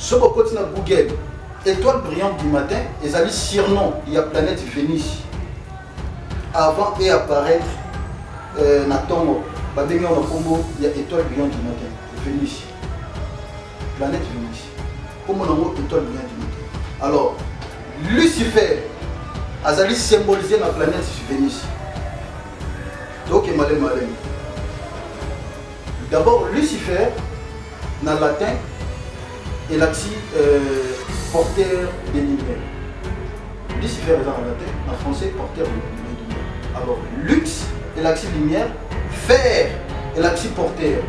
Soki okoti na Google, étoile brillante du matin ezali surnom ya planète Vénus avant et apparaître euh, na ntongo babengi yango na nkombo ya étoile brillante du matin Vénus planète Vénus nkombo na yango étoile brillante du matin alors Lucifer azali symbolisé na planète Vénus tokema le malemi D'abord, Lucifer, na latin, elakisi euh, porteur de lumière. Lucifer eza na latin, na français, porteur de lumière. Alors, lux elakisi lumière, fer elakisi porteur.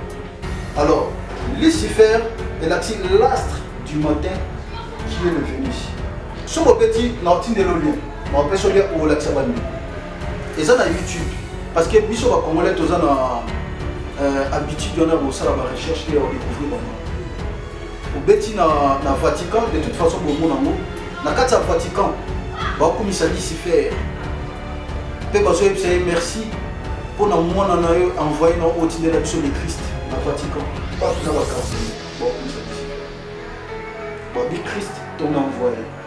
Alors, Lucifer elakisi l'astre du matin qui est le Vénus. Soki obeti na otindelo lien, na opesi olien olakisa bani. eza na youtube parce que biso ba congolais toza na euh, habitude wana bosala ba recherche te ya kodécouvrir bango obeti na, na vatican de toute façon bomona yango na kati ya vatican bakumisa lucifer mpe bazoyebisa ye merci mpo na mwana na yo envoye na otindela biso le christ na vatican bato na bakansi bakumisa lucifer babi christ to na envoye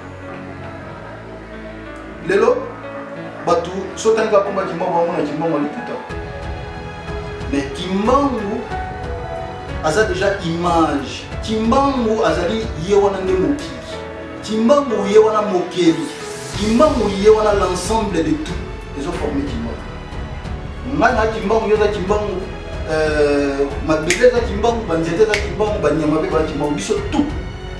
lelo bato sotani bakoma kimbangu bango na kimbangu alikuta me kimbangu aza deja image kimbangu azali ye wana nde mokili kimbangu ye wana mokeli kimbangu ye wana l'ensemble de tout ezoforme kimbangu ngai na kimbangu yo oza kimbangu euh, mabele eza kimbangu banzete eza kimbangu banyama mpe baza kimbangu biso tout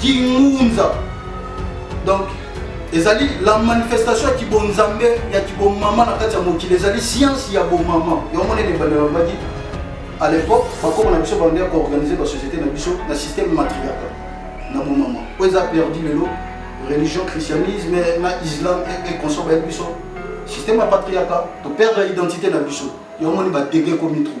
Kingunza. Donc ezali la manifestation ya kibonzambe ya kibomama na kati ya mokili ezali science ya bomama yango monene ebanda babaki à l'époque bakoma na biso banda ya koorganize basociété na biso na système matriarcal na bomama oyo eza perdu lelo religion christianisme na islam e consort bayebi biso système ya patriarcat toperdre identité na biso yango moni badege ekomi trop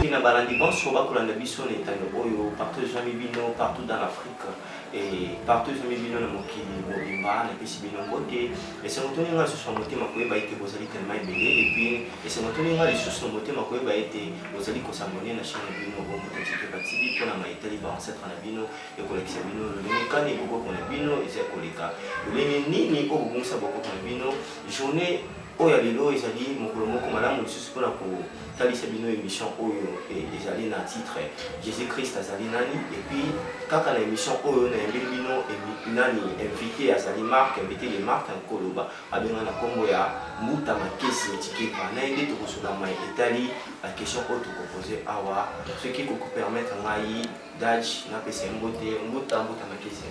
Mpe na balandi banso bakolanda biso na etando oyo, partout ezwami bino, partout dans l'Afrique, et partout ezwami bino na mokili mobimba, napesi bino mbote. Esengo toni ngai lisusu na motema koyeba ete bozali tellement ebele, et puis esengo toni ngai lisusu na motema koyeba ete bozali ko s'abonner na chaine na bino Bombo Tokikeba TV mpo na maye etali ba ancetres na bino, ya kolakisa bino lolenge kani bokoko na bino ezali koleka, lolenge nini oyo bobungisa bokoko na bino, journee. Oyo ya lelo ezali mokolo moko malamu lisusu mpo na kotalisa bino emission oyo e, ezali na titre Jesus Christ azali nani? Et puis kaka na emission oyo nayembeli bino emi, nani invite azali Marc, invite de Marc Nkoloba abenga na kombo ya Mbuta Makese Tshikeva. Na ye nde tokozula mai etali ba questions oyo tokopoze awa, soki ekoki kopermettre ngai Daj napesa ye mbote. Mbuta, Mbuta Makese.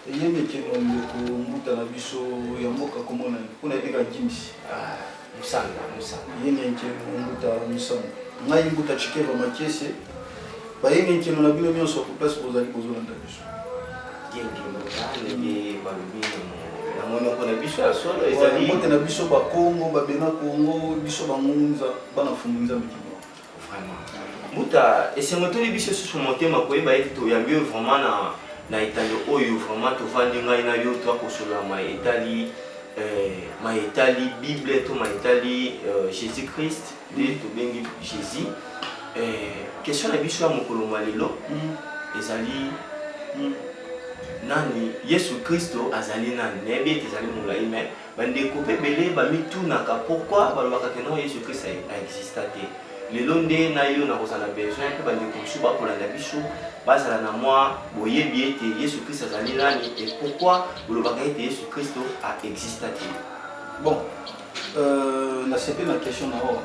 Eyemekelo ndeko mbuta na biso ya mboka kombo na mpo na ebeka Gims. Ah, Musanga, Musanga. Eyemekelo mbuta Musanga. Ngai mbuta Chikeva Makiese. Bayemekelo na bino nyonso ko place bozali bozolanda biso. Genki mbuta ndenge balobi na monoko na biso ya solo ezali. Mbote na biso ba Kongo, ba Bena Kongo, biso ba Ngunza, bana fungu Nzambe mbuta esengo etoli biso lisusu motema koyeba ete toyambi oyo vraiment na na etando oyo vraiment tovandi ngai na yo toya kosolola ma etali eh, ma etali bible to ma etali eh, jésus christ nde tobengi jésus eh, question na biso ya mokolo mwa lelo mm. ezali mm. nani yesu kristo azali nani nayebi ete ezali molai mai Bandeko pe ebele bamitunaka pourquoi balobaka que non Yesu Christ a exista te. Lelo nde na yo nakozala besoin pe bandeko mosusu bakolanda biso bazala na mwa boyebi ete Yesu Christ azali nani et pourquoi bolobaka ete Yesu Christ a exista te. Bon, euh, nasepeli na question na yo.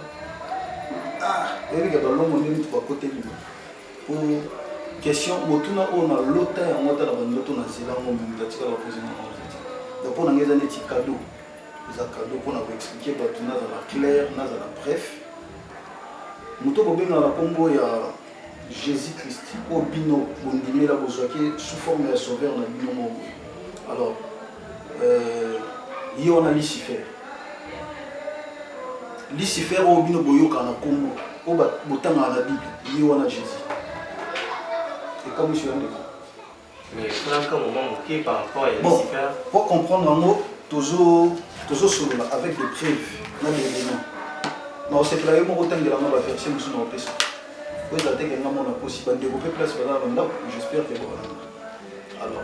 Ah, eyebi ke balongo nde mutu bakoteli. Hum, question botuna oyo na lota yango ata na bandoto na zela yango moto atikala bapozi na yango te donc mpo na ngai eza neti kado eza kado mpo na koexplike bato nazala claire nazala bref moto kobengaka na nkombo ya jésus christ oyo bino bondimela bozwaki sous forme ya sauveur na bino moko alors Euh, ye wana lucifer lucifer oyo bino boyoka na nkombo oyo botangaka na bible ye wana jésus ekamwisi ya ndeko bon po comprendre yango tozosolola avec des preuves na baélément nakosepela ye moko otangelanga baversion mosusu na kopesa po ezala te kenga mona kosi bandeko mpe place baza na bandako j'espère ke bokolanda alors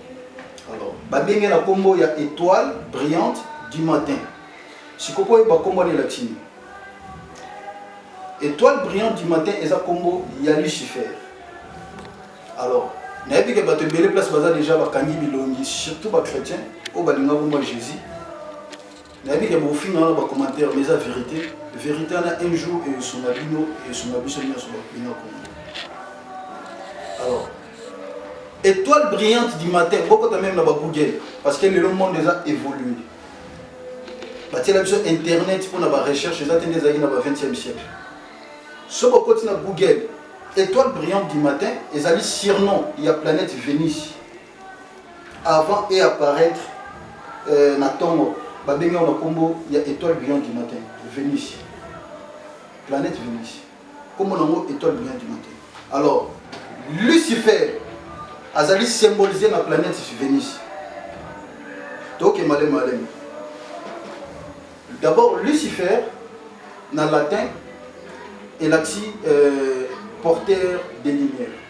alors babengi na kombo ya étoile brillante du matin sikoyo mpo oyeba kombo wana elakisi nini étoile brillante du matin eza kombo ya lucifer alors nayebi ke bato ebele place baza déjà bakangi bilongi surtout bachrétien oyo balingaka kombo ya jésus nayebi ke bokofinga wana bacommentaire mais eza verité verité wana un jour eyosunga bino eyosunga biso nyonso bakolinga kongo alors étoile brillante du matin bokota meme na bagoogle parce que lelo monde eza évolue batiela biso internet mpo na barecherche eza te nde ezalaki na ba 20e siècle soki okoti na google étoile brillante du matin ezali surnom ya planète vénus avant e apparaître euh, na ntongo babengi yango na nkombo ya étoile brillante du matin venus planète venus nkombo na yango étoile brillante du matin alors lucifer azali symbolise na planète venus toke malemi malemi d'abord lucifer na latin elakisi euh, porteur de lumière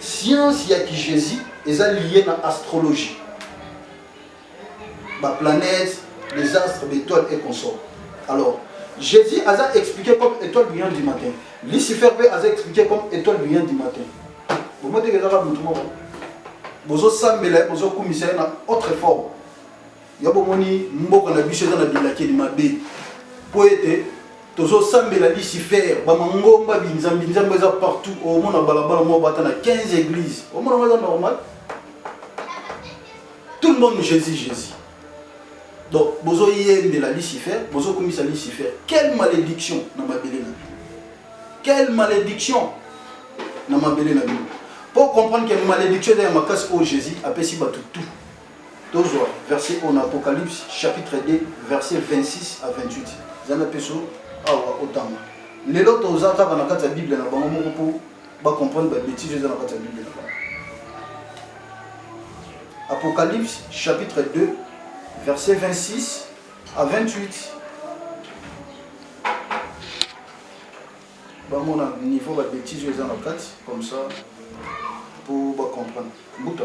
Science ya ki Jesus eza lie na astrologie, ba planètes, les astres, ba étoiles et consorts. Alors, Jesus aza expliqué comme étoile brillante du matin. Lucifer pe aza expliqué comme étoile brillante du matin. Bomo te kezaka mutu moko. Bozo sambela, bozo kumisa na autre forme. ya bomoni mboka na biso eza na bilakeli mabe mpo ete tozosambela lucifer bamangomba binzambi nzambe eza partout omona balabala moko bata na 15 église omona ngo eza normal tout le monde jésus jésus donc bozoyembela lucifer bozokumisa lucifer quelle malédiction na mabele na bino quelle malédiction na mabele na bino mpo comprendre que malédiction eza ya makasi oyo jésus apesi bato tout Tozwa verset oyo na Apocalypse chapitre 2 verset 26 à 28. Zana peso awa otanga. Lelo toza kaka na kati ya Bible na bango moko mpo ba comprendre ba bêtises eza na kati ya Bible na bango. Apocalypse chapitre 2 verset 26 à 28. bamona niveau ba bêtise oyo eza na kati comme ça mpo bacomprendre mbuta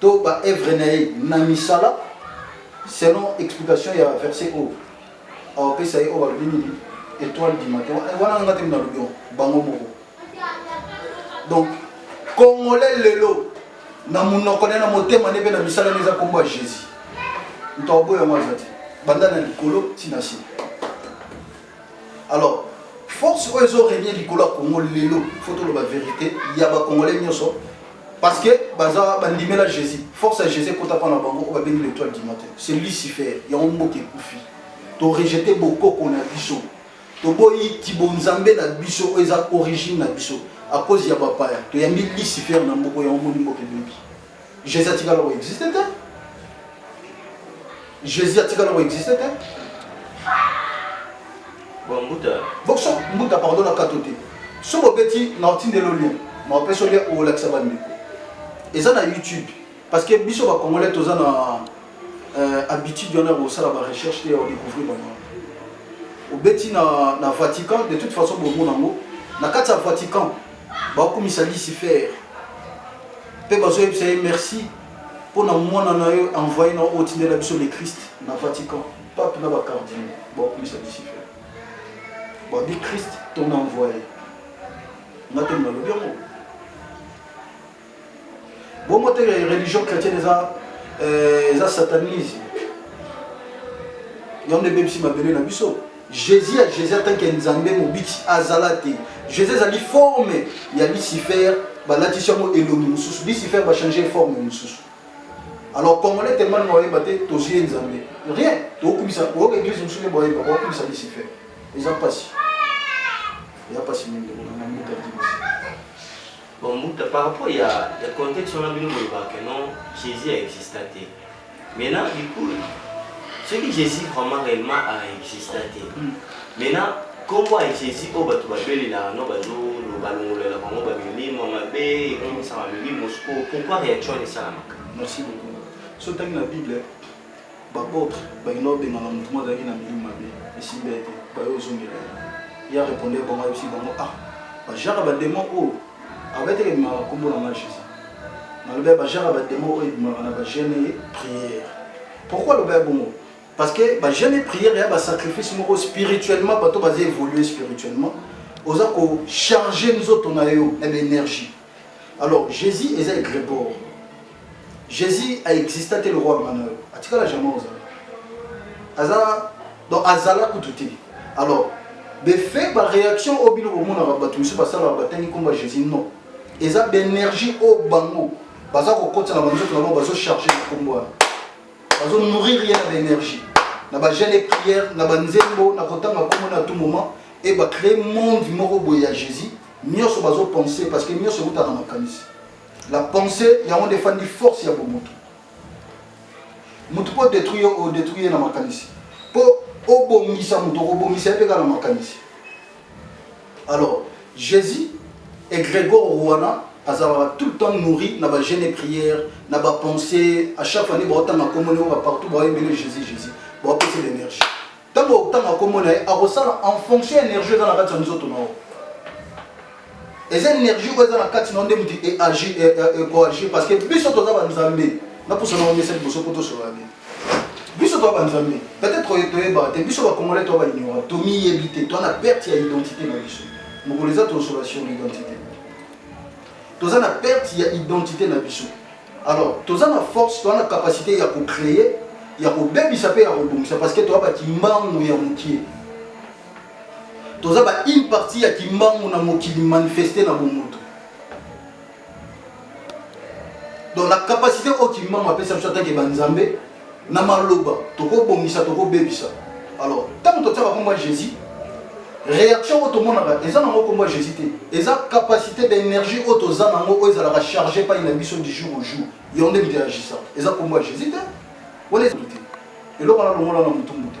to ba œuvre na ye na misala selon explication ya verset oyo aopesa ye oyo balobi nini étoile du matin wana nanga te nalobi yango bango moko donc congolais lelo na monoko ne na motema ne mpe na misala ne eza nkombo ya jésus moto akoboya yango aza te banda na likolo ntina se alors force oyo ezo renie likolo ya congo lelo faut toloba verité ya bacongolais nyonso parce que baza bandimela jésus force ya jésus ekota mpo na bango oyo babengi l'étoile du matin c'est lucifer yango mboka ekufi torejete bokoko na biso toboyi kibonzambe na biso oyo eza origine na biso à cause ya bapaya toyambi lucifer na mboko yango moni mboka ebebi Jésus a tika longo existe te. Jésus a tika longo existe te. Bon mbuta. Bon so mbuta pardon na kato te. So bobeti na otindelo lien. Na opesa lien o lakisa ba ndeko. Eza na YouTube parce que biso ba congolais toza na euh, habitude wana kosala ba recherche te ya découvrir bango. Obeti na na Vatican de toute façon bomona yango na kati ya Vatican bakumisa lucifer mpe bazoyebisa ye merci mpo na mwana na yo envoye na otindela biso le christ na vatican pape na bacardine bakumisa lucifer babi christ tona envoye nga te nalobi yango bongo te religion chrétienne eza euh, eza satanisme yango nde ebebisi mabele na biso jésus ya jésus atanke nzambe mobiki azala te jésus ezali forme ya lucifer balatisi yango elongi mosusu lucifer bachange forme mosusu alors congolais tellement na bayeba te tozwi ye nzambe rien tokokumisa oyoka église mosusu nde bayeba bakokumisa lucifer eza mpasi eza mpasi mingi na mboka Bon Mbuta, par rapport ya, ya contexte wana bino bolobaka que non Jésus a exista te. Maintenant du coup soki Jésus vraiment réellement a exista te. Hmm. Maintenant kombo ya Jésus oyo bato babelelaka no bazo balongolelaka bango bamilimo mabe ekomisaka milimo sikoyo pourquoi réaction wana esalamaka? Merci beaucoup. So otangi na Bible B'apotres balingi obengana moto moko azalaki na milimo mabe esimbi ye te, baye ozongela ye. Ye arepondaki bango, ayebisi bango, ah bajara bademo oyo abeti ebimaka nkombo na ngai Jésus. Nalobi ya bajara bademo oyo ebimaka na bagene ye prière. Pourquoi alobi ya bongo? Parce que bagene prière ya basacrifice moko spirituellement, bato baza évoluer spirituellement, oza kocharge nzoto na yo na baénergie alors jésus eza egreport jésus aexista te lokwa bana yo atikala jamai ozala aza donc azala kutu te alors befe baréaction oyo bino bomonaka bato mosusu basalaka batangi nkombo ya jésus non eza baénergie oyo bango baza kokotisa na banzoto na bango bazocharge na nkombo wana bazonourrir ye na baénergie na bagene e prière na banzembo na kotanga nkombo na tout moment e bacree monde moko boye ya jésus nioso bazo penser parce que nioso euta na makanisi la pensée yango nde efandi force ya bomoto moto mpo odetruire yo odetruire ye na makanisi mpo obongisa moto okobongisa ye mpe kaka na makanisi alors jésus egregor wana azalaka tout le temps nourri na bagene et prière na bapensée à chaque fois nde baotanga nkombo nde oyo bapartout baoyembele jésus jésus baopesa l'énergie Tango okotanga kombo na ye, akosala en fonction energie eza na kati ya nzoto na yo. Eza energie oyo eza na kati na yo nde moto eagir e, e, ekoagir parce que biso toza banzambe. Napusa na yo mesa liboso mpo tosolola nini. Biso toza banzambe. Peut-être oyo toyebaka te, biso bakongolais toza baignorant, tomiyebi te, toza na perte ya identité na biso. Mokolo eza tosolola sur l'identité. Toza na perte ya identité na biso. alors toza na force toza na capacité ya kocreye ya kobebisa mpe ya kobongisa parce que toza bakimbangu ya mokie toza ba une partie ya kimbangu na mokili manifeste na bomoto donc la capacité oyo kimbangu apesa biso atanke banzambe na maloba tokobongisa tokobebisa alors ntango totiaka nkombo ya jésus réaction oyo tomonaka eza nango nkombo ya jésus te eza capacité d'énergie oyo toza nango oyo ezalaka charge epai na biso du jour au jour yango nde miteagisa eza nkombo ya jésus te wana te eloko wana longola na motumbu te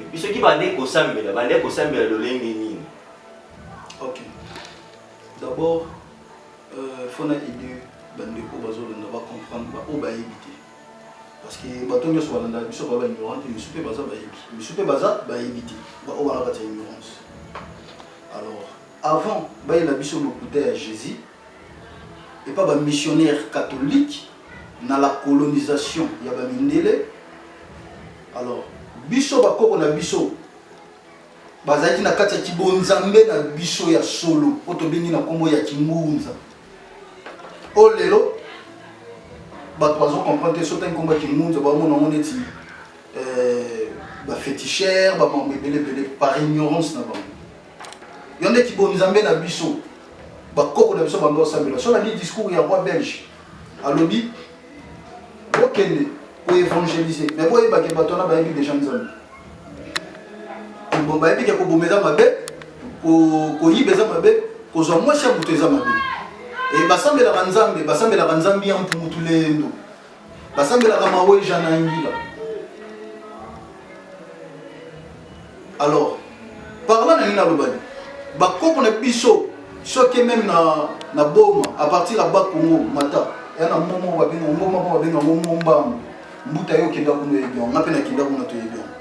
Epi soki bande kosambela, bande kosambela lolenge nini? Ok. D'abord, euh, faut na aider bandeko bazolanda ba comprendre ba oyo bayebi te. Parce que bato nyonso balanda biso ba ignorant te, misu mpe baza bayebi. Misu mpe baza bayebi te. Ba oyo wana batia ignorance. Alors, avant bayela biso lokuta ya Jésus, epa ba missionnaire catholique na la colonisation ya ba mindele alors biso bakoko na biso bazalaki na kati ya kibonzambe na biso ya solo oyo tobengi na nkombo ya kimbunza oyo lelo bato bazo comprendre te sotaki nkombo ya kimbunza baomona yango neti euh, bafetichere bamambo ebele ebele par ignorance na bango Yo nde kibo nzambe na biso. Bakoko na biso bando osambela. So na li discours ya roi belge. Alobi bokende ko évangéliser. Mais boyeba ke bato wana bayebi déjà nzambe. Bon bayebi ke koboma eza mabe, koyiba eza mabe, kozwa mwasi ya moto eza mabe. E basambelaka nzambe, basambelaka nzambe ya mputu lendo. basambelaka maweja na ngila alors parla na nini nalobani bakoko na biso soki meme na, na boma à partir ya bakongo mata ya na momo babenga ngoma mpo babenga ngo mombambo mbuta yo okenda kuna oyebi yango nga mpe nakenda kuna toyebi yango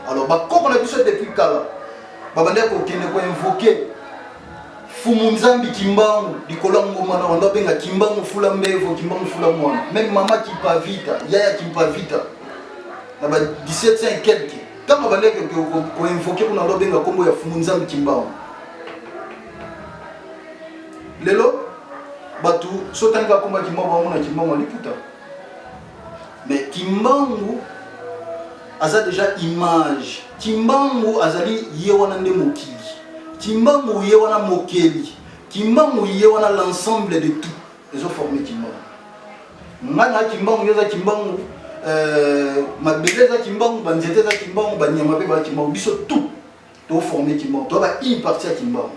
alors bakoko na biso depuis kala babandaki kokende koinvoke fumu nzambi kimbangu likolo ya ngoma na wando abenga kimbangu fula mbevo kimbangu fula mwana meme mama kimpavita yaya kimpavita na ba 1700 quelque ntango abandaki koinvoke kuna wando abenga nkombo ya fumu nzambi kimbangu lelo bato so otangi bakoma kimbangu bango na kimbangu aliputa mais kimbangu aza deja image kimbangu azali ye wana nde mokili Kimbangu ye wana mokeli. Kimbangu ye wana l'ensemble de tout. Ezo former Kimbangu. Nga na Kimbangu yoza Kimbangu. Euh, mabele eza Kimbangu, banzete eza Kimbangu, banyama pe ba Kimbangu. Biso tout. To former Kimbangu. To ba une partie ya Kimbangu.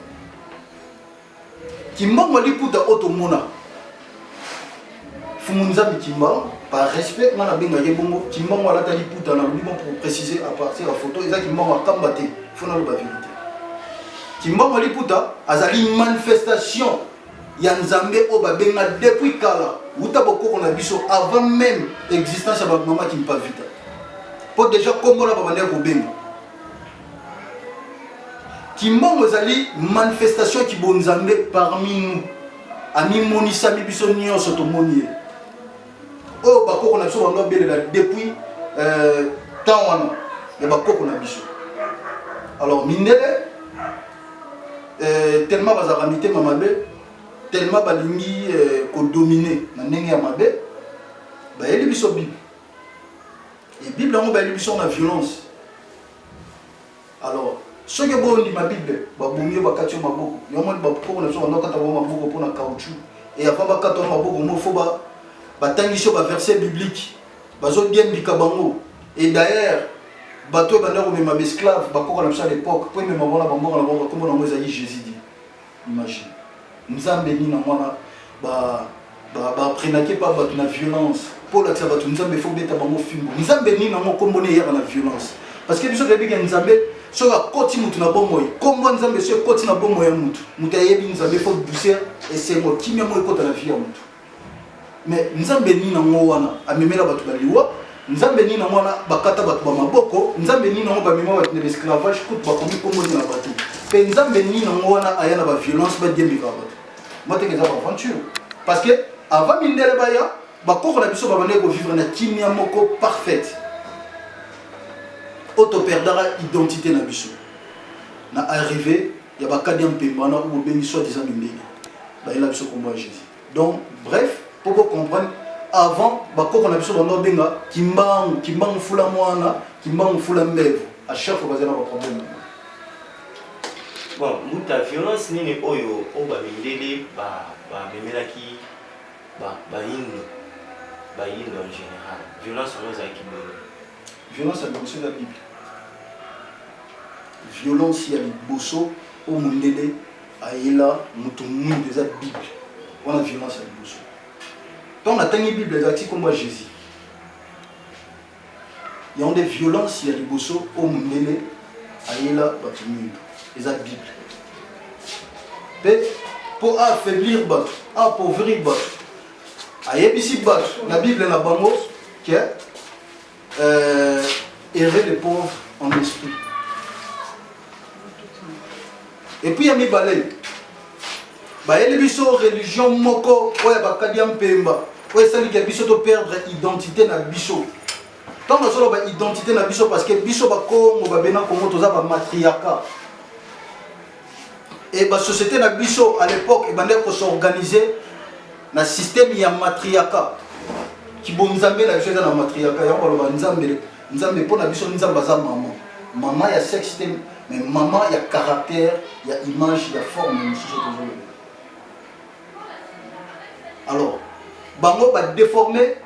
Kimbongo liputa oyo tomona fumu nzambi kimbango par respect nga nabenga ye bongo kimbango alata liputa na lobi bon pour préciser à partir ya photo eza kimbango akamba te fo naloba vérité kimbango liputa azali manifestation ya nzambe oyo babenga depuis kala uta bokoko na biso avant même existence ya bamama kimpavita mpo déjà nkombo na babandaki kobenga Kimbongo ezali manifestation ya kibonzambe parmi nous, amimonisami biso nyonso tomoni ye. Oyo bakoko na biso bango babelela depuis euh, temps wana ya bakoko na biso. Alors mindele euh, tellement bazalaka mitema mabe tellement balingi euh, kodomine na ndenge ya mabe bayeli biso bible e bible yango bayeli biso na violence alors soki bo ndima bible ba bomi ba katio maboko yo moni ba poko na soka ndokata ba maboko pona caoutchouc et avant ba kato maboko mo faut ba ba tangiso ba verset biblique bazo bien bika bango et d'ailleurs bato banda ko mema ba esclave ba koko na biso à l'époque po mema bona ba mbongo na bango kombo na ngo ezali Jésus dit Imagine. Nzambe nini yango wana baprenake ba, ba, pa bato na violence mpo olakisa bato nzambe fo obeta bango fimbo nzambe nini yango nkombo ne eyaka na violence parce que biso toyebi ke nzambe soki akoti motu na bomoi nkombo ya nzambe soki ekoti na bomoi ya motu motu ayebi nzambe fo douceur esengo kimia yango ekota na vie ya motu mais nzambe nini nango wana amemela bato na liwa nzambe nini nango wana bakata bato ba maboko nzambe nini nango bamema bato na baesclavage kutu bakomi komboni na bato mpe nzambe nini nango wana aya na baviolence badiembeka bato moteke eza baaventure parce que avant mindele baya bakoko na biso babandaki kovivre na kimia moko parfaite oyo toperdaka identité na biso na arrivé ya bakadi ya mpemba wana oyo bobengi soit disant mindele bayela biso nkombo ya jésus donc bref mpo bocomprendre avant bakoko na biso banda obenga kimbangu kimbangu fula mwana kimbangu fula mbevu à chaque fois bazala na baproblème bon mbuta violence nini oyo oyo bamindele bamemelaki bayindo bayindo en général violence yango ezalaki boye Violence ya liboso eza Bible. Violence ya liboso o mundele ayela moto mwindu eza Bible. Wana violence ya liboso. Donc natangi Bible ezalaki kombo ya Jésus. yango nde violence ya liboso oyo mondele ayela bato mingi eza bible mpe mpo affaiblir bato apauvrir bato ayebisi bato na bible na bango que euh, errer les pauvres en esprit. Et puis ya mibale bayeli biso religion moko oyo ya bakadi ya mpemba oyo esaliki ya biso to perdre identité na biso ntango nazoloba identité na biso parce que biso bakongo babena kongo toza bamatriarcat Et la société na biso à l'époque ebandaki ko s'organiser na système ya matriarcat kibonzambe na biso eza na matriarcat yango baloba nzambe nzambe mpo na biso nzambe aza mama mama ya sexe te mais mama ya caractère ya image ya forme mosusu tozoloba alors bango ba déformer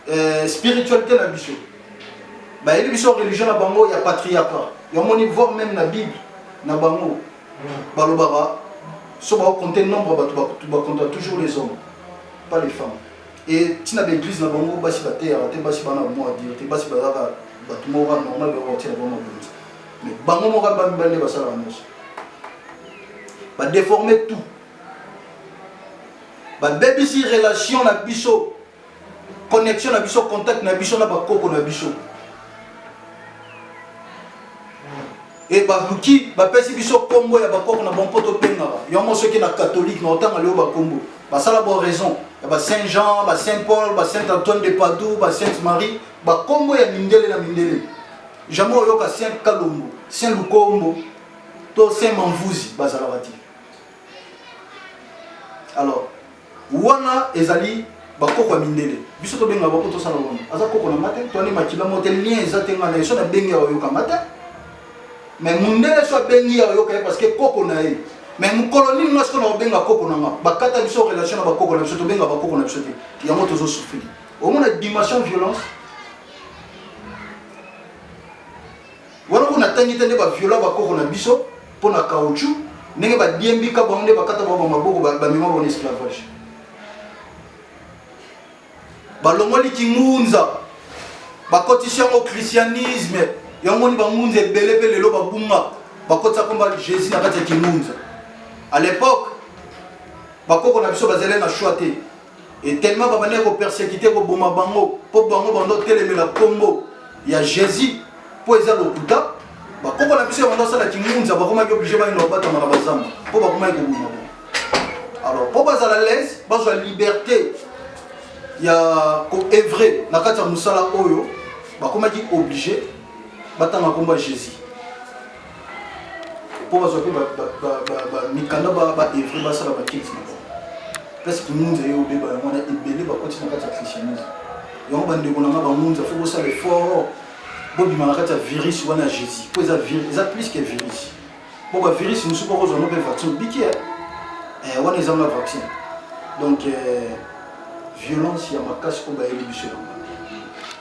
euh, spiritualité na biso bayebi biso religion na bango ya patriarcat yamoni voir même na bible na bango balobaka so bakokonte nombre bato bakonta toujours les hommes pas les femmes e ntina baeglise na bango basi bateyaka te basi bana bamoko adire te basi bazalaka bato moko normal bakokotia na bango mabonzi mais bango moko ba mibali nde basalaka nyonso badeforme tout babebisi relation na biso connexion na biso contact na biso na bakoko na biso e baluki bapesi biso nkombo ya bakoko na bango mpo tobengaka yango soki na katholike na otanga leo bakombo basala bo raison ya ba saint jean ba saint paul ba saint antoine de padour ba sainte marie bakombo ya mindele na mindele Jamais oyoka Saint Kalombo, Saint Lukombo, to Saint Mamvuzi bazalaka te. Alors, wana ezali bakoko ya mindele biso tobenga bako tosala wana aza koko na nga te toani makila mo te lien eza te nga na ye so nabengi ya oyoka nga te mais mundele so abengi ya oyoka ye parce que koko na ye mais mokolo nini nga sikoyo nakobenga koko na nga bakata biso relation na bakoko na biso tobenga bakoko na biso te yango tozosufili omona dimension violence wana kuna tangi te nde ba viola ba koko na biso pona caoutchouc ndenge ba diembi ka bango nde bakata bango maboko ba mema bango esclavage balongoli kingunza bakotisi yango christianisme yango ni bangunza ebele mpe lelo babunga bakotisa komba jésus na kati ya kingunza à l'époque bakoko na biso bazali na choix te et tellement babandaki kopersekite koboma bango mpo bango bando otelemela nkombo ya jésus mpo eza lokuta bakoko na biso bando asala kingunza bakomaki oblige bayino babatama na bazamba mpo bakomaki koboma bango alors mpo bazala lese bazwa liberté ya koevre na kati ya mosala oyo bakomaki oblige batanga nkombo ya jésus mpo bazwa mpe mikanda baevre basala bakiti na bango place kimunza ye obeba yango wana ebele bakoti na kati ya christianisme yango bandeko na nga bamunza fo bosala effort bobima na kati ya virus wana ya jésus mpo eza eza plus que virus mpo bavirus mosusu bakozwa no mpe vaccin obiki eh, eh, wana ezanga vaccin donc eh, violence ya makasi oyo bayeli biso yango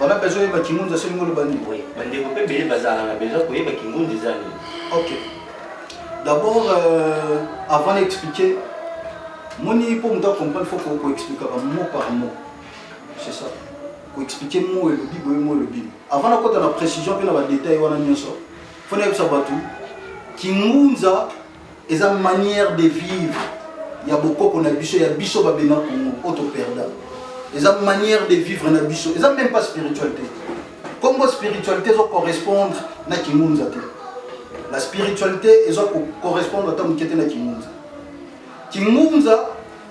Wana besoin oyeba kingunza soki ngolo bani. Oui, bandeko mpe bele bazalaka na besoin koyeba kingunza eza nini. Ok. D'abord euh, avant d'expliquer moni mpo moto acomprendre faut koexplikaka mot par mot. C'est ça. Koexpliquer mot elobi boye mot elobi. Avant nakota na précision mpe na badetail wana nyonso, faut nayebisa bato kingunza eza manière de vivre ya bokoko na biso ya biso babena kongo oyo toperda eza manière de vivre na biso eza même pas spiritualité kongo spiritualité ezo correspondre na kingunza te la spiritualité ezo correspondre ata moke te na kingunza kingunza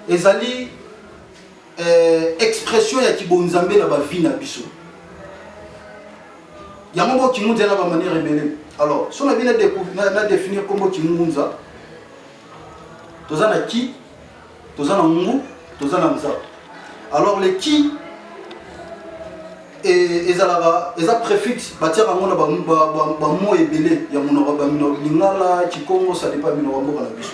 ezali eh, expression ya kibonzambe na bavie na biso yango moko kimunza na bamaniere ebele alors so nabi na définir nkombo kimunza toza na ki toza na ngu toza na nza alors le ki e, ezalaka eza préfixe batiaka yango na bamo ebele ya monoko lingala kikongo sadepa minoko mboka na biso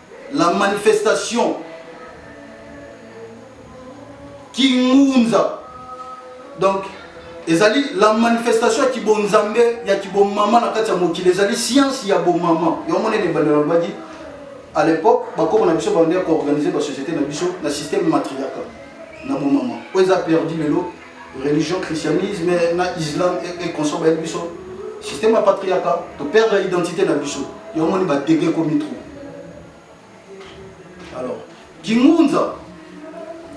La manifestation Kingunza. Donc, ezali la manifestation ya kibonzambe ya kibomama na kati ya mokili ezali science ya bomama yango monene ebandela lobaki à l'époque bakoko na biso bande ya koorganize basociété na biso na système matriarcal na bomama oyo eza perdu lelo religion christianisme na islam ekonso e bayebi biso système ya patriarcat toperdre identité na biso yo omoni badege ekomi trop alors kingunza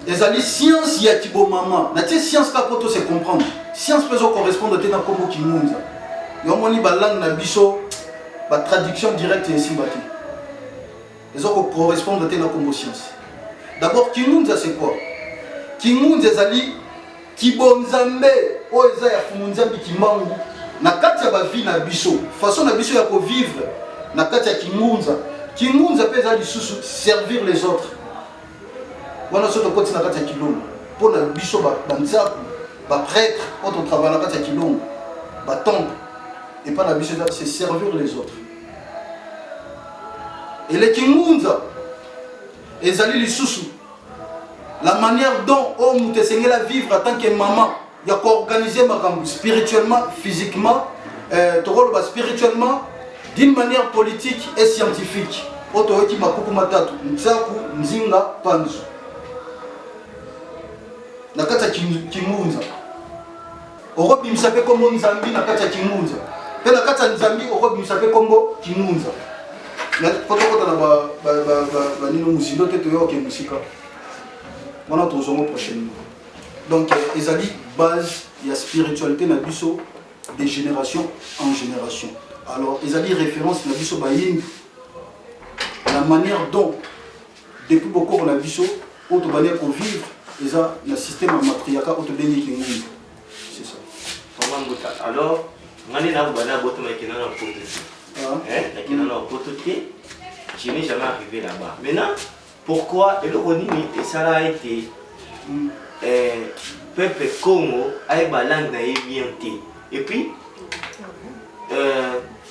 ezali science ya kibomama natie science kaka mpo tose comprendre science mpe ezocorrespondre te na nkombo kingunza yo omoni balangue na biso batraduction directe esimba te eza ko correspondre te na kombo science d'abord kingunza c'est quoi kingunza ezali kibonzambe oyo eza ya fumunzambi kimbangu na kati ya bavie na biso façon na biso ya kovivre na kati ya kingunza kingunza mpe eza lisusu servir les autres wana soki tokoti na kati ya kilongo mpo na biso banzaku baprêtre oyo totravaille na kati ya kilongo batemple epai na biso eza se servir les autres eleki ngunza ezali lisusu la manière dont oyo oh, moto esengeli avivre en tant que maman ya koorganize makambo spirituellement physiquement euh, tokoloba spirituellement d'une manière politique et scientifique oyo toyoki makuku matatu nzaku nzinga panzu na kati ya kingunza Okobimisa mpe kombo Nzambi na kati ya Kingunza. Mpe na kati ya Nzambi okobimisa mpe kombo Kingunza. Mpo tokota na banino mozindo te toyoka mosika. Wana tozongo prochainement. Donc euh, ezali base ya spiritualité na biso de génération en génération. Alors ezali référence na biso bayimbi la manière dont Depuis bokoko na biso oyo tobandaki kovivre eza na système ya matriaka oyo tobengi kingundu c'est ça mama mbuta alors ngai nde nakoba na botama ekenda na poto te nakenda na poto te je n'ai jamais arrivé là-bas maintenant pourquoi eloko nini esala ete hmm. eh, peuple congo ayeba langue na ye bien te et puis euh,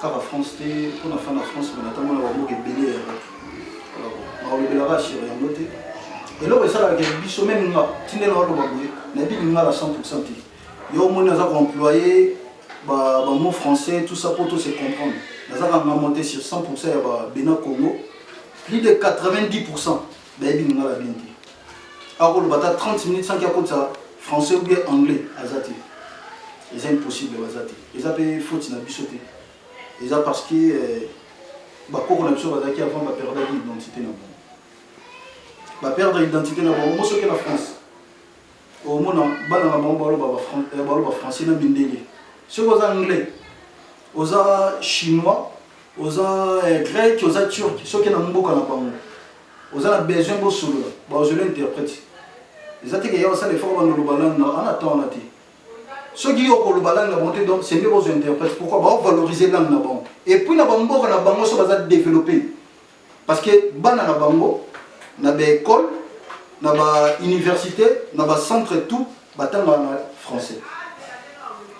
kaka france te mpo na fana france me natambola bamboka ebele ya bato nakolobelaka asure yango te eloko esalaka biso meme nga tinde naoloba boye nayebi lingala 100 pourcent te yo omoni aza koemploye bamo français tout ça mpo to se comprendre naza kanga monte sur 100 pourcent ya babena congo plus de 90 pourcent bayebi lingala bien te akoloba ata 30 minutes sanki akotisa français ou bien anglais aza te eza impossible baza te eza mpe faute na biso te eza parce que euh, bakoko na biso bazalaki avant baperdaki identité na bango baperdre identité na bango mosoki na france omona bana na bango baloba eh, français na mindele soki oza anglais oza chinois oza eh, grec oza turc soki na mboka na bango oza na besoin bosolola baozoli interprète eza te keya basala efoko banda oloba langue na ana temps wana te soki yo okoloba langue na bango te donc sende bozwa interprète pourquoi baovaloriser langue na bango epuis na bamboka na bango so baza développe parce que bana na bango na ba école na ba université na ba centre tout batanga na français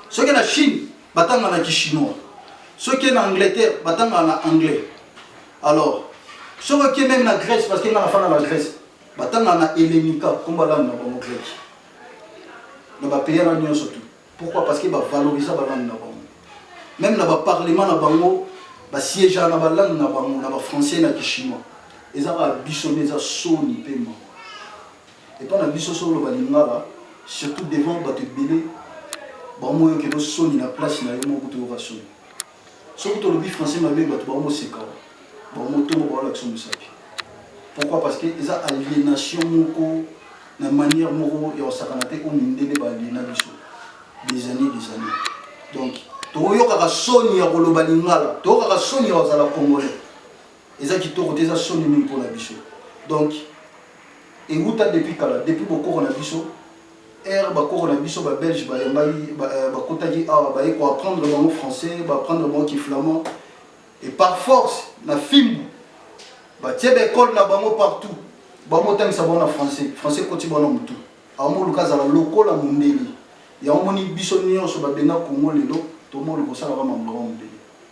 soki na chine batanga na kichinois soki na angleterre batanga na anglais alors soki oke meme na grèce parce que nga nafana na grèce batanga na helenika komba langue na bango greki na bapays wana nyonso tout Pourquoi? Parce que ba valoriser ba langue na bango. Même na ba parlement na bango ba siège na ba langue na bango na ba français na ki chinois. Eza ba biso nde eza soni pe mawa. Epa na biso solo ba lingala surtout devant bato ebele ba moyo kelo soni na place na yo moko kutu yo ka soni. soki tolobi français mabe bato bango moseka bango motombo baolakisa mosapi pourquoi parce que eza aliénation moko na manière moko ya kosakana te oyo mindele baaliena biso des années des années donc tokoyokaka soni ya koloba lingala toyokaka soni ya kozala congolais eza kitoko te eza soni mingi mpo na biso donc ewuta depuis kala depuis bokoko na biso Heure ba koko na biso ba belge ba yambaki ba kotaki awa ba ye ko apprendre bango français ba apprendre bango ki flamand et par force na fimbu ba tie ba école na bango partout ba motangisa bango na français français koti bango na mutu awa moluka azala lokola mondeli yango moni biso nyonso ba benga Congo lelo to moluka osalaka makambo na bango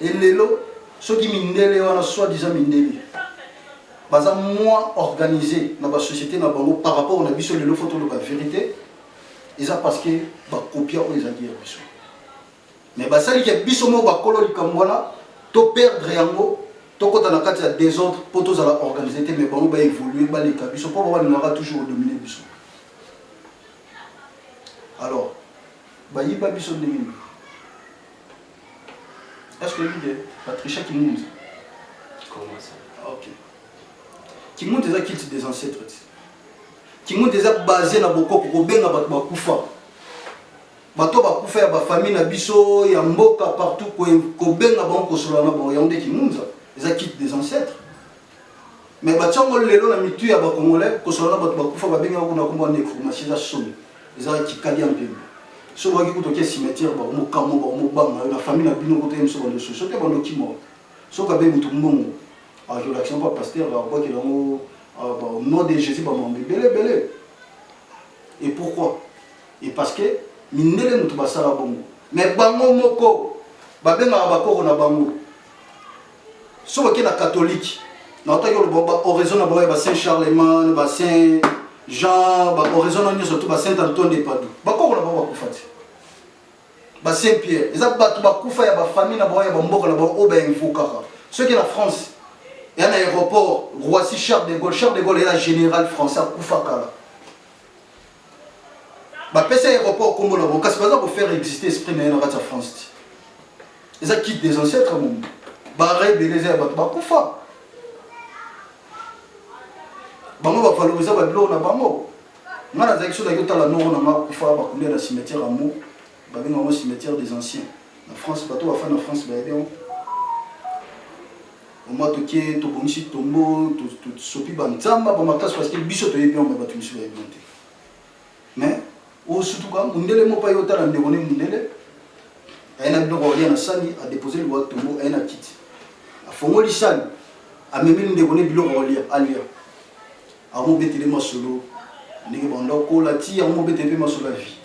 Et lelo, soki mindele wana, soit disant mindele, baza moins organisé na ba société na bango par rapport na biso lelo faut toloba vérité eza parce que ba copia oyo ezalaki ya biso mais basali ke biso moko bakolo likambo wana to perdre yango tokota na kati ya désordre mpo tozala organisé te mais bango baévolue baleka biso mpo babalingaka toujours odomine biso alors bayiba biso ndenge nini Est-ce que oyebi de Patricia Kimunza Comment ça Ok. Kimunza eza culte des ancêtres ti. Kimunza eza basé na bokoko kobenga bato bakufa. Bato bakufa ya bafamille na biso ya mboka partout kobenga bango kosolola na bango yango nde Kimunza eza culte des ancêtres. mais batia ngo lelo na mitu ya bacongolais kosala na bato bakufa babengi yango kuna kombo ya necromatie eza soni eza kikadi ya mpembe soki okoki kutu oke cimetière bakomokamwa bakomobanga yo na famille na bino kotoye miso bando susu oke bando kima soki abe motu mbongo akolakisa mpo pasteur abwakela yango au nom de jésus bamambo ebele ebele et pourquoi et parce que mindele motu basala bongo mais bango moko babengaka bakoko na bango Soki oke na katolike, na otaki oloba ba oraison na bango ya ba Saint Charlemagne, ba Saint Jean, ba oraison na nyonso tu ba Saint Antoine de Padoue. Ba koko na bango bakufa te. Ba Saint Pierre, eza bato bakufa ya ba famille na bango ya ba mboka na bango oyo ba invokaka. Soki na France, ya na aéroport Roissy Charles de Gaulle, Charles de Gaulle ya général français akufa kala. bapesi aéroport nkombo na bango kasi baza kofaire existe esprit na ye na kati ya france ti eza kite des ancêtres momo bara ebele eza ya bato bakufa bango bavaloriza babiloko na bango ngai nazalaki soki naki otala noro na ngai akufa bakulia na cimetière ya mo babenga yango cimetière des anciens na france bato bafai na france bayebi yango Mama toke tobongisi tombo tosopi banzamba ba makasi parce que biso toyebi yango bato misusu bayebi yango te mais osutuka mundele moko aye otala ndeko ne mundele aye na biloko akolia na sani adepose liwa tombo aye na kiti afongoli sani amemi ndeko ne biloko akolia alia akomobetele masolo ndenge banda kola ti akomobetele mpe masolo ya vie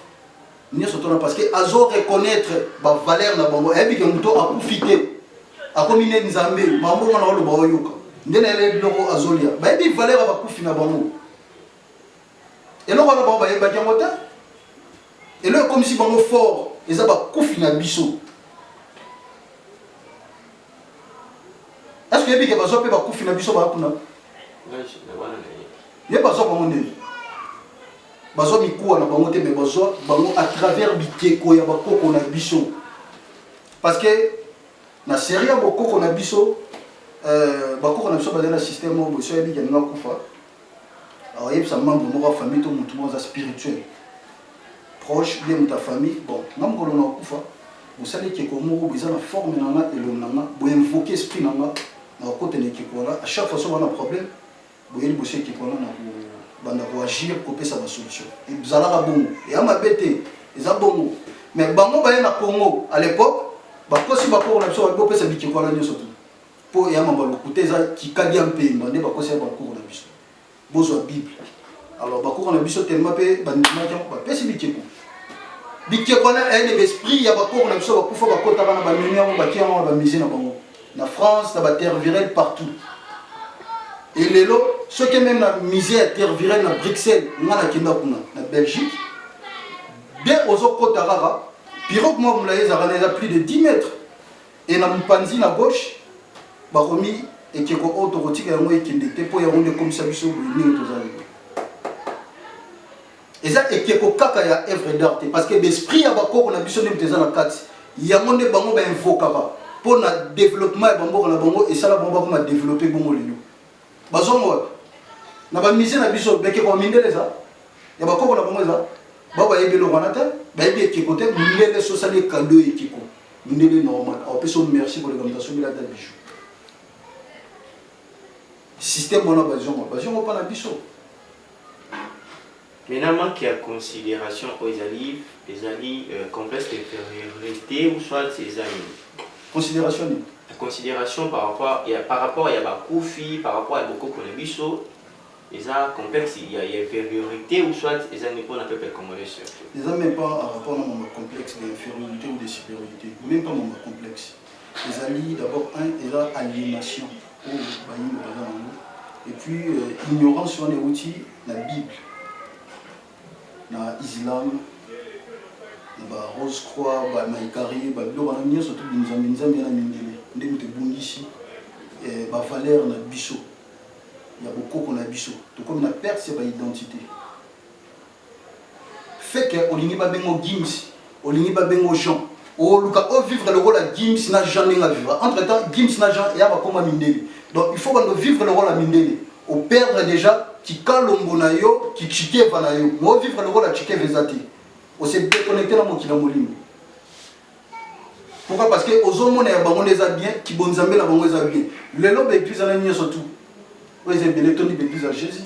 nioso tona parce que azo reconnaître ba valeur na bango ayebi ke moto akufi te akomi nde nzambe mambongo na oloba oyoka nde na yele biloko azolia bayebi valeur ya bakufi na bango eloko wana bango bayebaki yango te elo ekomisi bango fort eza bakufi na biso eske oyebi ke bazwa mpe bakufi na biso baya kuna ye bazwa bango ndeni bazwa mikuwa na bango te me bazwa bango à travers bikeko ya bakoko na biso parce que na serie ya bokoko na biso euh, bakoko na biso bazali na système moko boso oyebi keninga kufa ayebisa membre moko ya famille to motu moko aza spirituel proche bien moto ya famille bon nga mokolo na okufa mosali ekeko moko boeza na forme na nga elongi na nga boinvoke esprit na nga na kokota na ekeko wana à chaque fois so bana problème boye liboso ekipe wana na kobanda koagir kopesa basolution ezalaka bongo eya mabe te eza bongo mais bango baye na congo à l'époque bakosi bakoko na biso babi bopesa bikeko wana nyonso tu mpo eya mambo ya lokuta eza kikadi ya mpemba nde bakosi ya bakoko na biso bozwa bible alors bakoko na biso telema mpe bandimaki yango bapesi bikeko bikeko wana eyani baesprit ya bakoko na biso bakufa bakotaka na bamemi yango bakia yango na bamise na bango na france na batervirel partout e lelo soki meme na musée ya tervirel na bruxelles nga nakenda kuna na belgique de ozokota kaka pirogue mwa molai ezalaka na eza plus de 10 mètre e na mopanzi na gauche bakomi ekeko oyo tokotika yango ekende te mpo yango nde ekomisa biso boye ndenge tozali eza ekeko kaka ya œuvre d'art te parce que b'esprit ya bakoko na biso nde moto eza na kati yango nde bango bainvokaka mpo na développement ya bamboka na bango esala bango bakoma développe bongo lelo bazongo wapi na bamise na biso bekeko ya mindele eza ya bakoko na bango eza bao bayebi eloko wana te bayebi ekeko te mindele sosali ekado ekeko mindele normal aopesa o merci koleka moto asombeli ata bijou système wana bazongo bazongo mpo na biso Maintenant, manque ya consideration oyo ezali ezali euh, complexe d'infériorité ou soit eza nini? Consideration nini? Consideration par rapport ya par rapport ya bakufi, par rapport ya bokoko na biso eza complexe ya ya infériorité ou soit eza nini mpo na peuple congolais surtout? Eza même pas en rapport na mama complexe d'infériorité ou de supériorité, même pas mama complexe. ezali d'abord un eza aliénation oyo bayimbo baza nango et puis euh, ignorance wana euti na bible na islam na ba rose croix ba maikari ba biloko wana nyonso to binzambi nzambi na mindele nde moto ebungisi eh, ba valeur na biso ya bokoko na biso tokomi na perte ya ba identité Feke olingi ba benga yo Gims, olingi ba benga yo Jean. Oluka o vivre lokola Gims na Jean ndenge a vivre. Entre temps Gims na Jean ya ba koma mindele. Donc il faut bando vivre lokola mindele. O perdre dejà kikalombo na yo, ki tshikeva na yo. Mais o vivre lokola tshikeva eza te. O se deconnecter na mokili ya molimo. Pourquoi parce que ozo mona ya bango nde eza bien, ki bonzambe na bango eza bien. Lelo ba eglise wana nionso tout. Oyo eza ebele etondi ba eglise ya Jesus.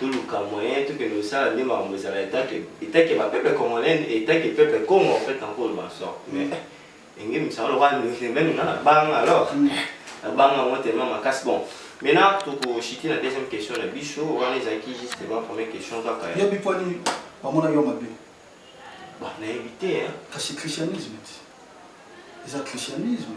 toluka moyen tokende kosala nde makambo ezala etake etake ba peuple congolais etake peuple congo en fait na nkolo masor mais enge misala lokola meme nga na banga alors na banga yango tellement makasi bon maintenant tokoshiti na deuxième question na biso wana ezalaki justement première question kaka yebi poni bamona yo mabe nayebi te kasi christianisme te eza christianisme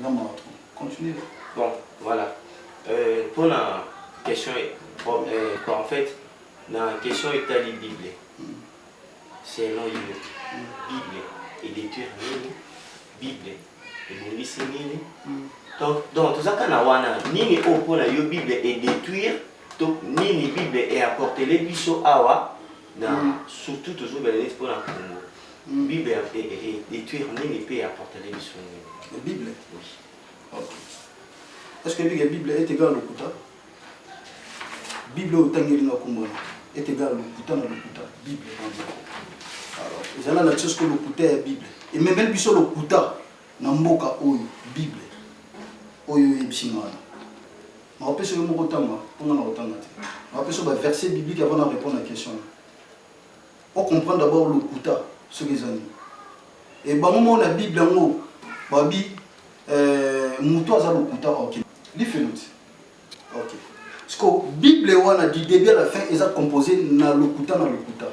nga mawa trop continue bon voilà euh, mpo na question bon, euh, quoi, en fait na question etali bible mm. selon yo mm. bible edetruire nini bible ebongisi nini mm. donc donc toza kaka na wana nini oyo mpo na yo bible edetruire to nini bible eapportele biso awa na mm. surtout tozobela neti mpo na congo mm. bible ya détruire nini mpe ya portale biso nini ya bible est ce que ebike bible etegala lokuta bible oyo otangeli na komona etegala lokuta na lokuta bible ezala na tiosiko lokuta ya bible ememeli biso lokuta na mboka oyo bible oyo oyebisi mwana Nako pesa yo moko tanga po nga nako tanga te. Nako pesa yo ba verset biblique avant na repondre na question na. O comprendre d'abord lokuta soki eza nini. Et bango moko na bible yango babi euh, mutu aza lokuta ok. Lifelo ti. Ok. Siko bible wana du début à la fin eza composé na lokuta na lokuta.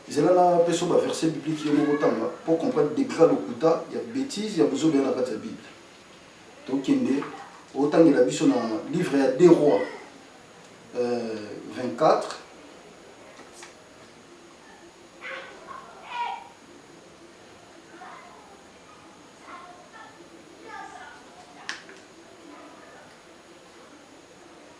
zela na peso ba verset biblique yo moko tanga pour comprendre degré lokuta ya bêtise ya bozoba ya na kati ya bible tokende otangela biso na livre ya deux rois euh, 24 24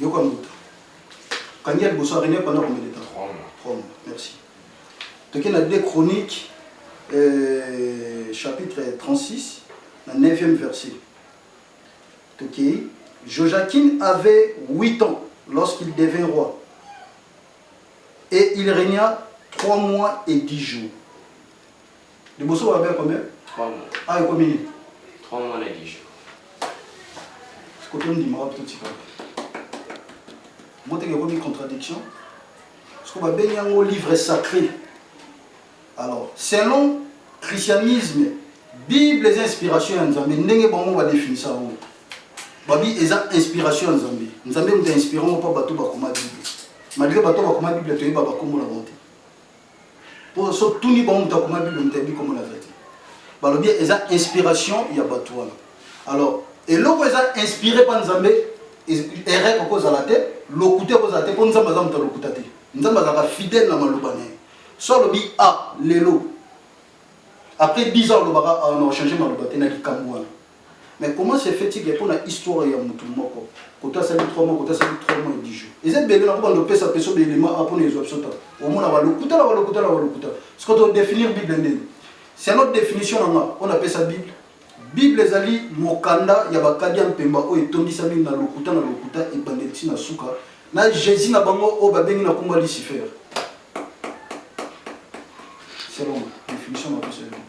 yoka moto kangi ya liboso arene panda combien de temps trois mois merci toke na deux chronique euh, chapitre 36 na 9e verset tokei jojaquin avait 8 ans lorsqu'il devint roi et il régna trois mois et dix jours Liboso ba belle combien? 3 mois. Ah ekomi nini? 3 mois na 10 jours. Sikoto ndima wapi totika. Mote ke komi contradiction. Siko ba bengi yango livre sacré. Alors, selon christianisme, Bible eza inspiration ya Nzambe ndenge bango ba definisa yango. Babi eza inspiration ya Nzambe. Nzambe moto inspirant pa bato bakoma Bible. Malgré bato bakoma Bible toyeba bakombo na bango te. po so tuni bango moto akoma bible moto ayebi komona aza te balobi eza inspiration ya bato wana alors eloko eza inspiré pa nzambe erreur okozala te lokuta ekozala te mpo nzambe aza moto ya lokuta te nzambe azalaka fidèle na maloba na ye so alobi a ah, lelo après 10 ans olobaka ah, na ochange maloba te na likambo wana Mais comment se fait-il que pona histoire ya mutu moko, koto asali 3 mois, koto asali 3 mois et 10 jours. Eza ebele nako banda opesa peso ba element awa pona ezua biso temps. Omona ba lokuta na ba lokuta na ba lokuta. Sikoyo to definir Bible ndeni? Selon definition na nga oyo na pesa Bible, Bible ezali mokanda ya ba kadia mpemba oyo etondisami na lokuta na lokuta ebandeli ti na suka na Jesus na bango oyo ba bengi na kombo ya Lucifer. Selon nga, definition na pesa Bible.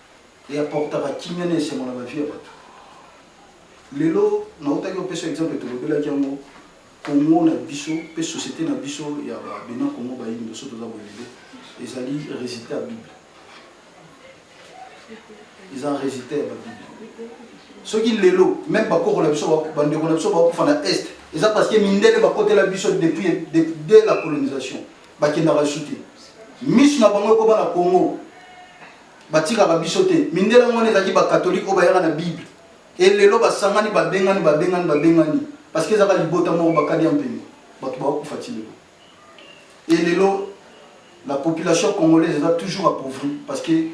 et apportaka kimia na esengo na bavie ya bato lelo nautaki opesa exemple tolobelaki yango congo na biso mpe société na biso ya babena congo bayini biso toza boye lelo ezali résultat ya bible eza résultat ya babible soki lelo meme bakoko na biso bandeko na biso bakufa na est eza parce que mindele bakotela biso depuis dès la colonisation bakendaka su te misu na bango ekoma na congo batikaka biso te mindele yango wana ezalaki bakatolike oyo bayaka na bible elelo basangani babengani babengani babengani parce que ezaka libota moko bakadi ya mpembe bato bakokufa ti lelo elelo la population congolaise eza toujours appauvri parce que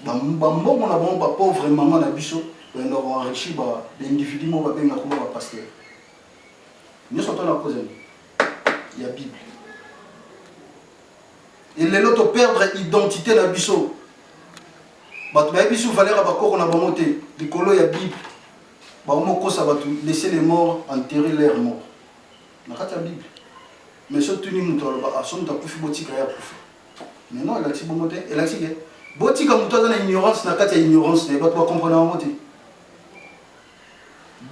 bambongo na bango bapauvre mama na biso bayenda koenrichi baindividu moko babengaka kuna bapaster nyonso to na kozela ya bible et lelo to perdre identité na biso bato bayebi biso valeur ya bakoko na bango te likolo ya bible bango mokosa bato laisser les morts enterrer leur mort na kati ya bible mais so tuni moto aloba aso ah, moto akufi botika ye akufa mais non elakisi bongo te elakisi ke botika moto aza na ignorance na kati ya ignorance na ye bato bakomprana yango te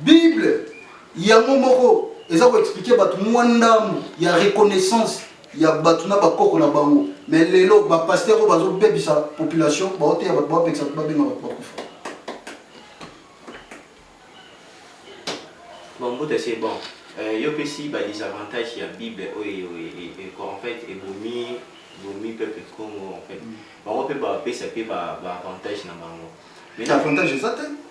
Bible yango moko eza ko expliquer bato mwa ndambu ya reconnaissance ya bato na bakoko na bango mais lelo ba pasteur oyo bazobebisa population baoteya bato bapekisa bato babenga bato bakufa bon mbuta c'est bon euh, yo pesi ba désavantage ya bible oyo en fait ebomi bomi peuple congo en fait mm. bango mpe bapesa mpe ba avantage na bango avantage eza te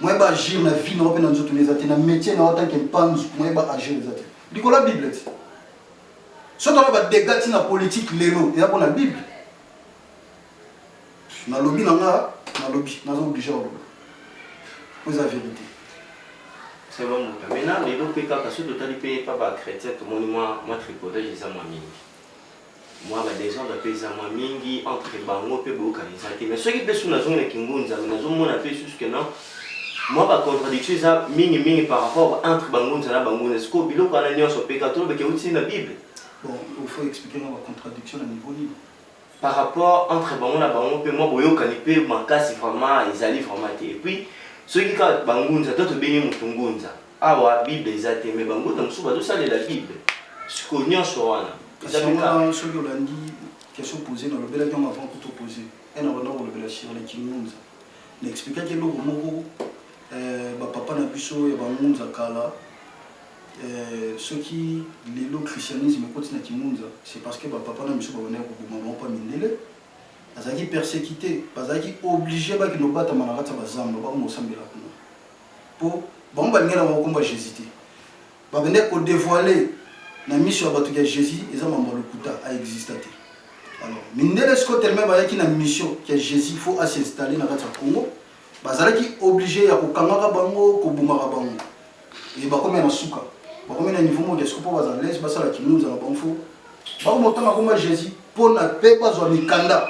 moyen ba agir na vie na yo mpe na nzoto na eza te na métier na yo tant que mpanzu moyen ba agir eza te likolo ya bible te soki tala badega ntina politike lelo eza mpo na bible nalobi na nga nalobi naza oblige oloba mpo eza verité sema moto maintenant lelo mpe kaka soki totali mpe epa bachrétien tomoni mwa mwa tripodage eza mwa mingi mwa ba desordre mpe eza mwa mingi entre bango mpe boyokani eza te mais soki mpe soki nazongi na kingunza me nazomona mpe susu ke non mwa ba contradiction eza mingi mingi par rapport entre bangunza na bangunza sikoyo biloko wana nyonso mpe katolo beke euti na bible bon il faut expliquer mwa ba contradiction na niveau nini par rapport entre bango na bango mpe mwa boyokani mpe makasi vraiment ezali vraiment te epuis soki kaka bangunza to tobengi motu ngunza Awa bible eza te mais banguna mosusu bazosalela bible siko nyonso wana soki olandi question pose na lobelaki yango avant kuto pose ena banda kolobela shirle kingunza na explikaki eloko moko eh, bapapa na biso ya bangunza kala eh, soki lelo christianisme ekoti na kingunza c'est parce que bapapa na biso babandaki koboma bango mpa mindele azalaki persécuté bazalaki oblige bakende obatama na kati ya bazamba bakoma kosambela kuna po bango balingi na bango komba Jésus te bakende ko dévoiler na miso ya bato ya Jésus eza mambo lokuta a exista te alors mindele siko tellement bayaki na mission ya Jésus faut a s'installer na kati ya Congo bazalaki obligé ya kokangaka bango kobomaka bango e bakomi na suka bakomi na niveau moko ya siko mpo bazala lese basala kimunza na bango fo bakoma otanga komba Jésus mpo na mpe bazwa mikanda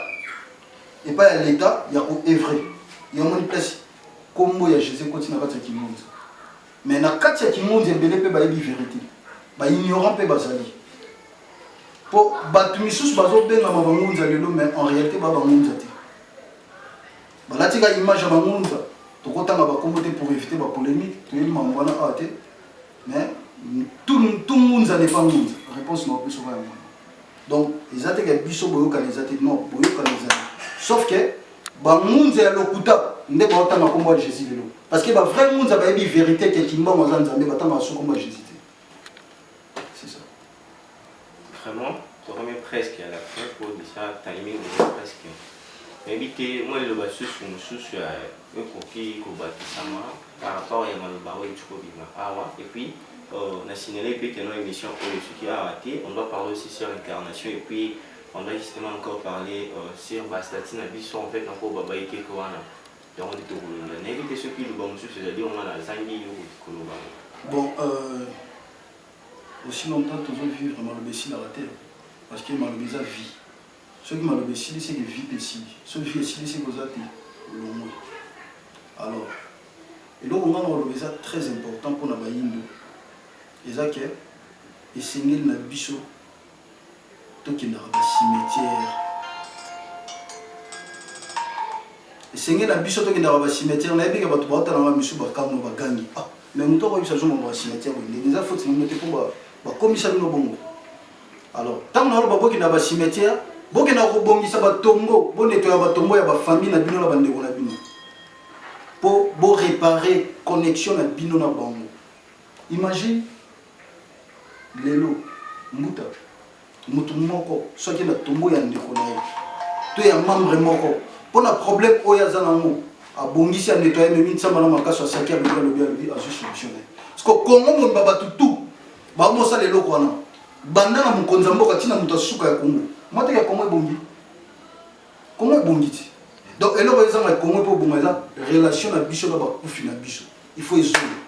epai ya leta ya koevre yamoni place Kombo ya Jesus ekoti na kati ya kimonzi. Mais na kati ya kimonzi ebele pe bayebi verite. Ba ignorant pe bazali. Po bato misusu bazo bengama bangunza lelo mais en réalité ba bangunza te. Balati ka image ya bangunza. Tokotanga bakombo te pour éviter ba polemique. Toyebi mambo wana awa te. mais tout tout ngunza n'est pas ngunza réponse na biso ba yango donc eza te ke biso boyokana eza te non boyokana eza sauf que bangunza ya lokuta nde baotanga nkombo ya jésus lelo parce que bavrai ngunza bayebi vérité ke kimbango aza nzambe batanga baso nkombo ya jésus Vraiment, tokomi presque à la fin pour déjà timing eza presque. Nayebi te mwa liloba lisusu mosusu ya ekoki kobakisama par rapport ya maloba oyo euti kobima awa et puis euh, na signale mpe teno émission oyo soki awa te on doit parler aussi sur incarnation et puis on doit justement encore parler euh, sur bastati na biso en fait na mpo baba ekeke wana yango nde tokolonda nayebi te soki liloba mosusu ezali wana nazangi yo koloba bon euh... Aussi longtemps tozo vivre maloba esilaka te parce que maloba eza vie soki maloba esili seke vie pe esili soki vie esili seke oza te olongwe alors eloko nga nakoloba eza très important pona bayindo eza ke esengeli na biso tokendaka ba cimetière esenge na biso tokendaka ba cimetière nayebi ke bato baotala nga misu bakamwa bagangi ah, mais moto akoyebisa zongo ba cimetière oyo ndenge eza foti nino te mpo bakomisa bino bongo alors ntango na oloba bokenda ba cimetière bokenda kobongisa batombo bonetoya batombo ya bafamille na bino na bandeko na bino mpo borepare connexion na bino na bango imagine Lelo, Mbuta, mutu moko soki na tombo ya ndeko na ye to ya membre moko mpo na problème oyo aza nango abongisi ya nettoye memi nsamba na makaso asaki alobi alobi alobi azwi solution na ye siko kongo mobimba bato tu baomosala eloko wana banda na mokonzi ya mboka ntina moto asuka ya kongo mwateke ya kongo ebongi kongo ebongi ti donc eloko ezanga kongo mpo obonga eza relation na biso na bakufi na biso il faut ezonga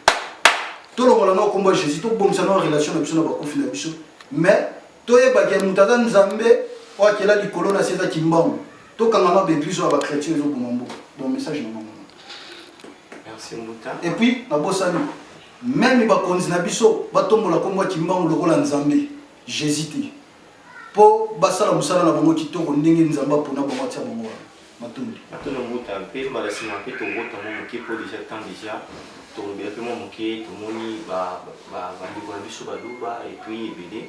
tolongola na okombo ya jésus tobongisa na relation na biso na bakufi na biso mais toyebaki ya moto aza nzambe oyo akela likolo na se eza kimbangu tokangama baeglise oyo ya bachrétien ezoboma mboka donc message na bango et puis nabosani meme bakonzi na biso batombola nkombo ya kimbangu lokola nzambe jésus te mpo basala mosala na bango kitoko ndenge nzambe apona bango atia bango wana matundu to na mbuta mpe mbala sima mpe tobota mwa moke mpo deja temps deja tolobela mpe mwa moke tomoni bandeko na biso baluba epuis ebele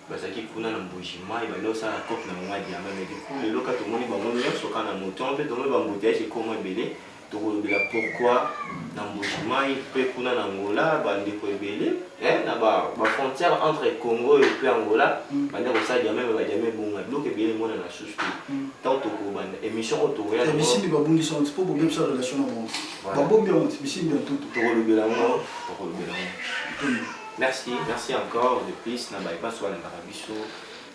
bazalaki kuna na mbujima ebanda osala cope na bango ya diama mais du coup lelo ka tomoni bango nyonso kaka na moto mpe tomoni bambuteyage ekoma ebele Tokolobela pourquoi na Mbujimayi mpe kuna na Angola ba ndeko ebele eh, na ba ba frontières entre Congo et puis Angola mm. banda kosala diamant mais ba diamant ebonga biloko ebele mona na susu te mm. tant tokobanda émission oyo tokoya na bisimbi babungisa onti mpo bobebisa relation na bango babombi yango nti bisimbi ya ntutu tokolobela yango tokolobela yango merci merci encore de plus na baye baso balingaka biso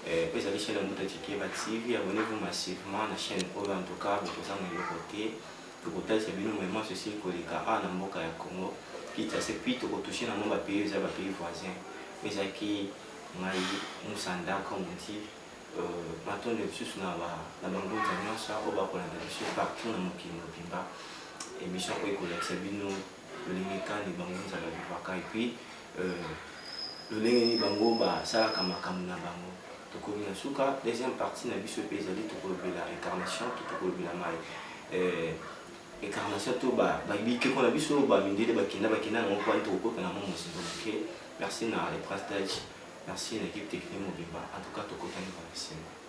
Eh, pesa ki chaîne Mbuta Tshikeva TV, abonnez-vous massivement na chaîne oyo en tout cas bokozanga eloko te. Tokotalisa bino moyema ceci koleka a na mboka ya Congo. Kinshasa et puis tokotouche na mwa ba pays eza ba pays voisins. Ezaki ngai Musanda comme on dit. Euh, matondo lisusu na ba na bangunza nyonso oyo bakolanda biso partout na mokili mobimba. Emission oyo ekolakisa bino lolenge kani bango nzala vivaka epuis euh, lolenge nini bango basalaka makambo na bango tokomi na suka deuxième partie na biso mpe ezali tokolobela incarnation to tokolobela mai euh, incarnation to bikeko na biso bamindele bakenda bakenda yango mpo ani tokokota na mwa mozindo moke merci na le prince dage merci na équipe technique mobimba en tout cas tokotani bana nsima